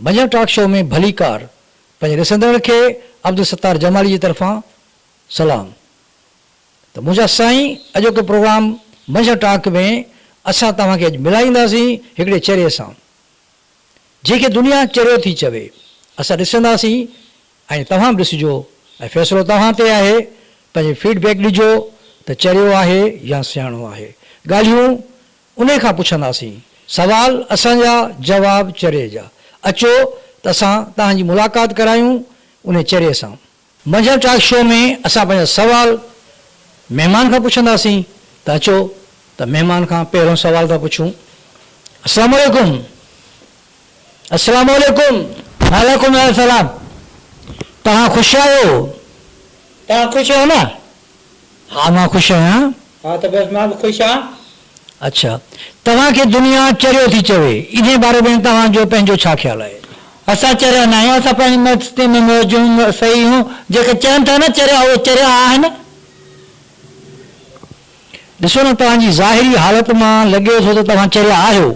منجهند talk show ۾ ڀليڪار پنهنجي ڏسندڙن کي عبدالستار جمالي جي طرفان سلام ته منهنجا سائين اڄوڪي پروگرام منجهند ٽاڪ ۾ اسان توهان کي اڄ ملائينداسين هڪڙي چري سان جنهن کي دنيا چريو ٿي چوي اسان ڏسنداسين ۽ توهان به ڏسجو ۽ فيصلو توهان تي آهي پنهنجي فيڊ بيڪ ڏجو ته چريو آهي يا سياڻو آهي ڳالهيون انهي کان پڇنداسين سوال اسان جا جواب چري جا اچو ته اسان توهان جي ملاقات ڪرايون انهي چري سان. منجهند ٽاڪ شو ۾ اسان پنهنجا سوال مهمان کان پڇنداسين ته اچو ته مهمان کان پهريون سوال ٿا پڇون السلام عليڪم. السلام عليڪم وعليڪم السلام توهان خوش آهيو توهان خوش آهيو نه ها مان خوش آهيان ها ته بس مان به خوش آهيان اڇا توهان کي دنيا چريو ٿي چوي انهي باري ۾ توهان جو پنهنجو ڇا خيال آهي. اسان چريا ناهيون اسان پنهنجي مستي ۾ موجون سهي هون جيڪي چون ٿا نه چريا اهي چريا آهن. ڏسو نه توهان جي ظاهري حالت مان لڳي ٿو ته توهان چريا آهيو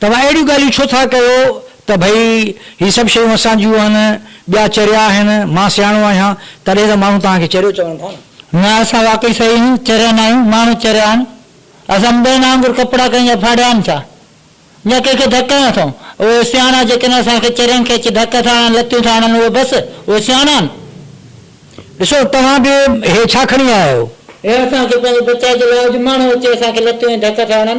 توهان اهڙيون ڳالهيون ڇو ٿا ڪيو ته ڀئي هي سڀ شيون اسان جون آهن، ٻيا چريا آهن، مان سياڻو آهيان، تڏهن ته ماڻهو توهان کي چريو چون ٿا نه. نه اسان واقعي صحيح آهيون، چريا نه آهيون، ماڻهو چريا آهن، اسان ٻين وانگر ڪپڙا ڪنهن جا ڦاڙيا آهن ڇا؟ يا ڪنهن کي ڌڪ هنيا اٿئون؟ اهي سياڻا جيڪي اسان کي چرين کي اچي ڌڪ ٿا هڻن، لتيون ٿا هڻن، اهي بس اهي سياڻا آهن؟ ڏسو توهان به هي ڇا کڻي آيا آهيو؟ هي اسان کي پنهنجي بچاء جي لاء اڄ ماڻهو اچي اسان کي لتيون ۽ ڌڪ ٿا هڻن؟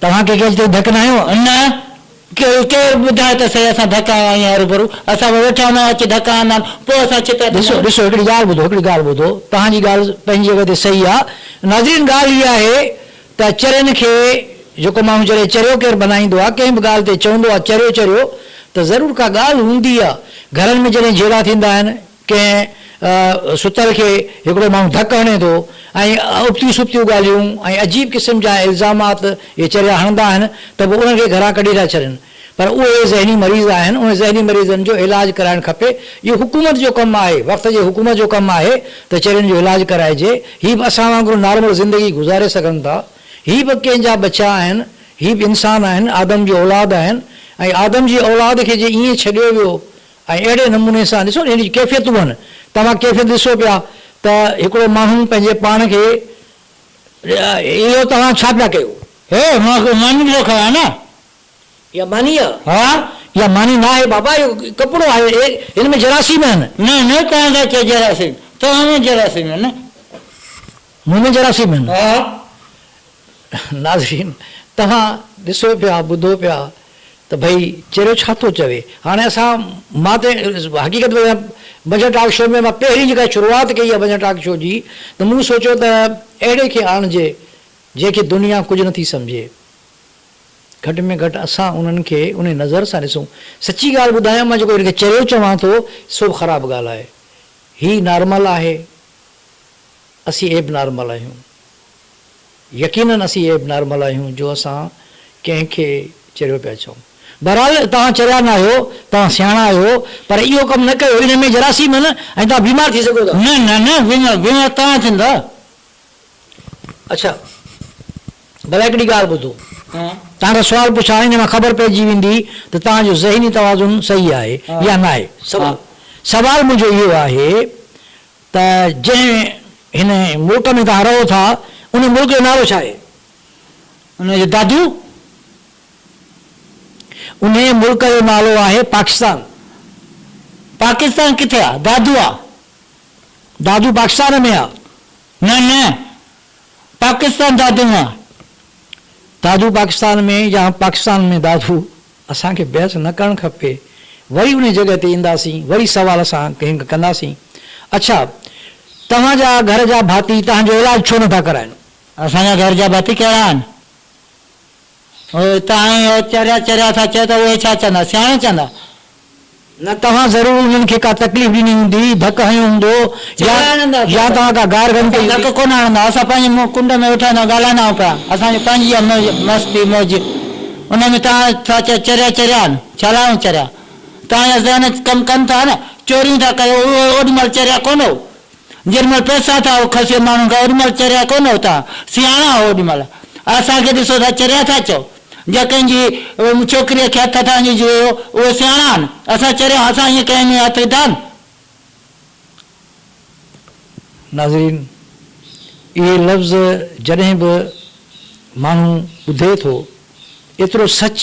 توهان ڪي ڪيل تي ڌڪ ناهيو؟ نه ڪيل ڪير ٻڌائي ته سهي اسان ڌڪ هنيا آهن هروڀرو اسان به ويٺا هوندا اچي ڌڪ هندا آهن پوء اسان چتا تي ڏسو ڏسو هڪڙي ڳالهه ٻڌو هڪڙي ڳالهه ٻڌو توهان جي ڳالهه پنهنجي جڳهه تي سهي آ ناظرين ڳالهه هي آهي ته چرين کي جيڪو ماڻهو چري چريو ڪير بنائيندو آ ڪنهن به ڳالهه تي چوندو آ چريو چريو ته ضرور ڪا ڳالهه هوندي آ گهرن ۾ جڏهن جهيڙا ٿيندا آهن ڪنهن ستل کي هڪڙو ماڻهو ڌڪ هڻي ٿو ۽ ابتيون سبتيون ڳالهيون ۽ عجيب قسم جا الزامات اهي چريا هڻندا آهن ته پوء انهن کي گهران ڪڍي ٿا ڇڏين پر اهي ذهني مريض آهن انهن ذهني مريضن جو علاج ڪرائڻ کپي اهو حڪومت جو ڪم آهي وقت جي حڪومت جو ڪم آهي ته چرين جو علاج ڪرائجي هي به اسان وانگر نارمل زندگي گذاري سگهن ٿا هي به ڪنهن جا ٻچا آهن هي به انسان آهن آدم جي اولاد آهن ۽ آدم جي اولاد کي جي ائين ڇڏيو ويو ۽ اهڙي نموني سان ڏسو ان جي ڪيفيتون هن توهان ڪيفيت ڏسو پيا ته هڪڙو ماڻهو پنهنجي پاڻ کي اهو توهان ڇا پيا ڪيو. هي مان ڪو ماني ڏسو کڻان نه. اها ماني آ. ها اها ماني ناهي بابا اهو ڪپڙو آهي اهي هن ۾ جراثيم هن. نه نه توهان ٿا چئو جراثيم توهان ۾ جراثيم هن. مومن جراثيم هن. ناظرين توهان ڏسو پيا ٻڌو پيا ته ڀئي چريو ڇا ٿو چوي هاڻي اسان مان ته حقيقت ۾ ڀنجهه ٽاڪ شو ۾ مان پهرين جيڪا شروعات ڪئي آهي ڀنجهه ٽاڪ شو جي ته مون سوچيو ته اهڙي کي آڻجي جنهن کي دنيا ڪجهه نه ٿي سمجهي گهٽ ۾ گهٽ اسان انهن کي انهي نظر سان ڏسون سچي ڳالهه ٻڌايان مان جيڪو هن کي چريو چوان ٿو سو به خراب ڳالهه آهي هي نارمل آهي اسين ايب نارمل آهيون. يقينن اسين ايب نارمل آهيون جو اسان ڪنهن کي چريو پيا چئون. بهرحال توهان چريا نه آهيو، توهان سياڻا آهيو، پر اهو ڪم نه ڪيو، ان ۾ جراثيم آهن ۽ توهان بيمار ٿي سگهو ٿا. نه نه نه بيمار بيمار توهان ٿيندا. اڇا ڀلا هڪڙي ڳالهه ٻڌو. توهان کان سوال پڇان ان مان خبر پئجي ويندي ته توهان جو ذهني توازن صحيح آهي يا ناهي. سوال سوال منهنجو اهو آهي ته جنهن هن ملڪ ۾ توهان رهو ٿا، ان ملڪ جو نالو ڇا آهي؟ ان جو دادو، انهيء ملڪ جو نالو آهي پاڪستان. پاڪستان ڪٿي آ؟ دادو آ، دادو پاڪستان ۾ آ. نه نه، پاڪستان دادو مان آ. دادو پاڪستان ۾ يا پاڪستان ۾ دادو؟ اسان کي بحث نه ڪرڻ کپي. وري انهي جڳهه تي اينداسين وري سوال اسان ڪنهن ڪنداسين. اڇا توهان جا گهر جا ڀاتي توهان جو علاج ڇو نه ٿا ڪرائين؟ اسان جا گهر جا ڀاتي ڪهڙا آهن؟ اهي ته ائين چريا چريا ٿا چئو ته اهي ڇا چوندا سياڻا چوندا. نه توهان ضرور انهن کي ڪا تڪليف ڏني هوندي، ڌڪ هنيو هوندو يا يا توهان ڪا گار گهڻي ڪئي هوندي. ڌڪ ڪونه هڻندا، اسان پنهنجي منهن ڪنڊ ۾ ويٺا هوندا ڳالهائيندا آهيون پيا، اسان جي پنهنجي آهي مستي موج، ان ۾ توهان ٿا چئو چريا چريا آهن، ڇا لاء آهيون چريا؟ توهان جا ذهن ڪم ڪن ٿا نه، چوريون ٿا ڪيو، اهي اوڏ مهل چريا ڪونه هو، جيڏ مهل پئسا ٿا کسيو ماڻهن کان اوڏ مهل چريا ڪونه هو توهان، سياڻا هو اوڏ مهل، اسان کي ڏسو ٿا چريا ٿا چئو. جا ڪنهن جي ڇوڪريء کي هٿ هٿان ڏيجي ويو، اهي سياڻا آهن. اسان چريا هئاسان، ائين ڪنهن ۾ هٿ وڌائن؟ ناظرين! اهي لفظ جڏهن به ماڻهو ٻڌي ٿو، ايترو سچ،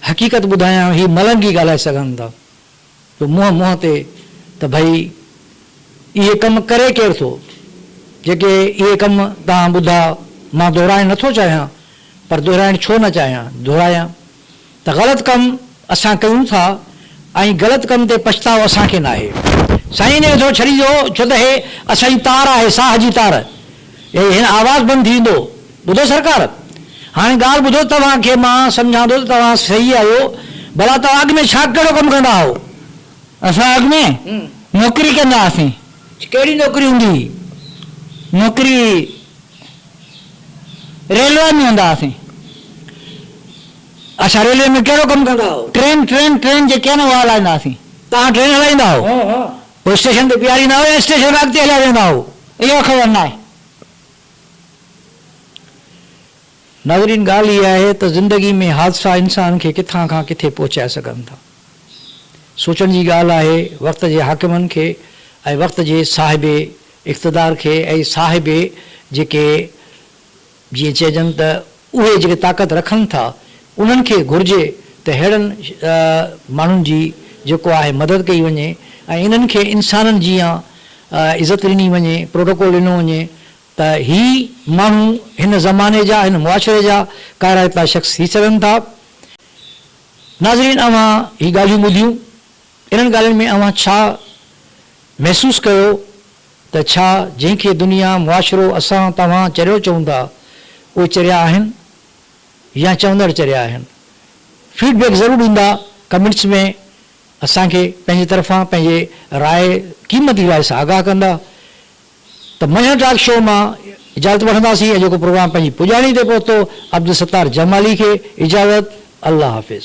حقيقت ٻڌايان هي ملنگ ئي ڳالهائي سگهن ٿا. جو منهن منهن تي ته ڀئي اهي ڪم ڪري ڪير ٿو؟ جيڪي اهي ڪم توهان ٻڌا مان دهرائڻ نه ٿو چاهيان پر دهرائڻ ڇو نه چاهيان دهرايان ته غلط ڪم اسان ڪيون ٿا ۽ غلط ڪم تي پڇتاء اسان کي ناهي. سائين انهيء کي ٿو ڇڏي ڏيو ڇو ته هي اسان جي تار آهي ساهه جي تار. هي هن آواز بند ٿي ويندو. ٻڌو سرڪار! هاڻي ڳالهه ٻڌو توهان کي مان سمجهان ٿو ته توهان صحيح آهيو، ڀلا توهان اڳ ۾ ڇا ڪهڙو ڪم ڪندا هئو؟ اسان اڳ ۾ نوڪري ڪندا هئاسين. ڪهڙي نوڪري هوندي هئي؟ نوڪري ريلوي ۾ هوندا هئاسين. اڇا ريلوي ۾ ڪهڙو ڪم ڪندا هئو؟ ٽرين ٽرين ٽرين جيڪي آهي نه اها هلائيندا هئاسين. توهان ٽرين هلائيندا هئو؟ هو اسٽيشن تي بيهاريندا هئا يا اسٽيشن کان اڳتي هليا ويندا هئا، اهو خبر ناهي. ناظرين ڳالهه هيء آهي ته زندگي ۾ حادثا انسان کي ڪٿان کان ڪٿي پهچائي سگهن ٿا. سوچڻ جي ڳالهه آهي وقت جي حاڪمن کي ۽ وقت جي صاحب اقتدار کي ۽ صاحب جيڪي جيئن چئجن ته اهي جيڪي طاقت رکن ٿا انهن کي گهرجي ته ههڙن ماڻهن جي جيڪو آهي مدد ڪئي وڃي ۽ انهن کي انسانن جيان عزت ڏني وڃي پروٽوڪول ڏنو وڃي ته هي ماڻهو هن زماني جا هن معاشري جا ڪارائتا شخص ٿي سگهن ٿا ناظرين اوهان هي ڳالهيون ٻڌيون انهن ڳالهين ۾ اوهان ڇا محسوس ڪيو ته ڇا جنهن کي دنيا، معاشرو، اسان، توهان چريو چئون ٿا، اهي چريا آهن يا چوندڙ چريا آهن؟ فيڊ بيڪ ضرور ڏيندا ڪمينٽس ۾ اسان کي پنهنجي طرفان پنهنجي راء قيمتي راء سان آگاهه ڪندا ته منجهند ٽاڪ شو مان اجازت وٺنداسين ۽ جيڪو پروگرام پنهنجي پڄاڻي تي پهتو عبدالستار جمالي کي اجازت الله حافظ.